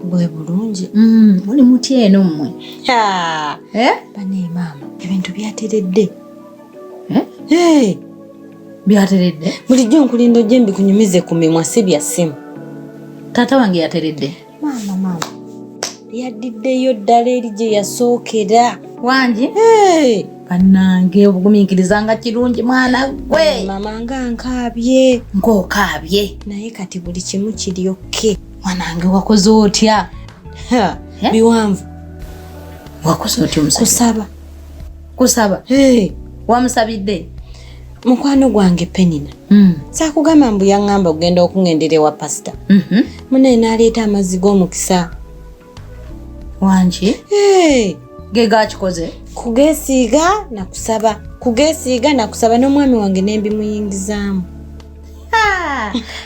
bwe bulungi mm, muli mutya eno mmwe eh? bane maama ebintu byateredde eh? byateredde bulijjo nkulinda ojje mbikunyumize ku mimwa si bya ssimu taata wange yateredde maama maama yaddiddeyo ddala eri gye yasookera wangi bannange obugumiikiriza nga kirungi mwana gwe mama nga nkaabye ng'okaabye naye kati buli kimu kiryokke mwanange wakoze otya eh? biwanvu wakoze otya omusajja kusaba kusaba hey. wamusabidde mukwano gwange penina mm. sakugamba mbu yaŋŋamba okugenda okuŋendera ewa pasita mm -hmm. munaye n'aleeta amazzi g'omukisa wangi ge gakikoze kugesiiga nakusaba kugesiiga nakusaba n'omwami wange nembimuyingizaamu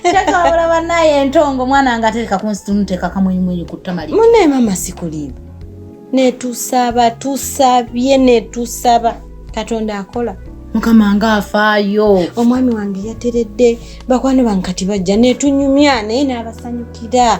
kyekabula banaye entongo omwana nga atereka kunsitunuteka kamwenyumwenyu kutamali munaye mama sikulimu netusaba tusabye netusaba katonda akola mukama nga afaayo omwami wange yateredde bakwano bankati bajja netunyumya naye n'abasanyukira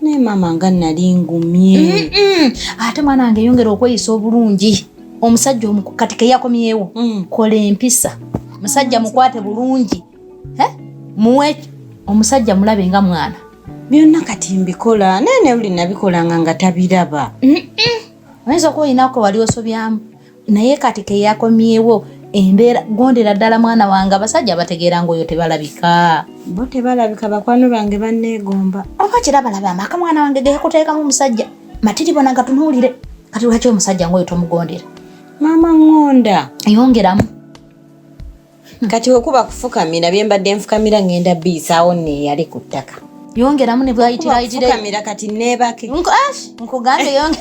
naye maama nga nali ngumye ate mwana wange yongera okweyisa obulungi omusajja omuku kati keyakomyewo mm. kola empisa musajja mukwate bulungi muwe omusajja mulabe nga mwana byonna kati mbikola naye newuli nabikolanga nga tabiraba oyinza okuba olinaku wali osobyamu naye kati keyakomyewo embeera gondera ddala mwana wange abasajja abategeera ngaoyo tebalabika bo tebalabika bakwano bange banneegomba oba kirabalaba amaka mwana wange geyakuteekamu omusajja matiri bona gatunuulire kati lwaki omusajja ngaoyo tomugondera maama ŋonda yongeramu kati wekuba kufukamira byembadde nfukamira ngenda biyisaawo neyali ku ttaka yongeramu nebwayitirayitirfukamira kati nebake nkugambe yonge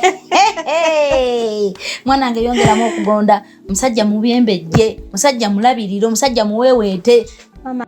mwanange yongeramu okugonda musajja mubyembejje musajja mulabirire omusajja muweweete mama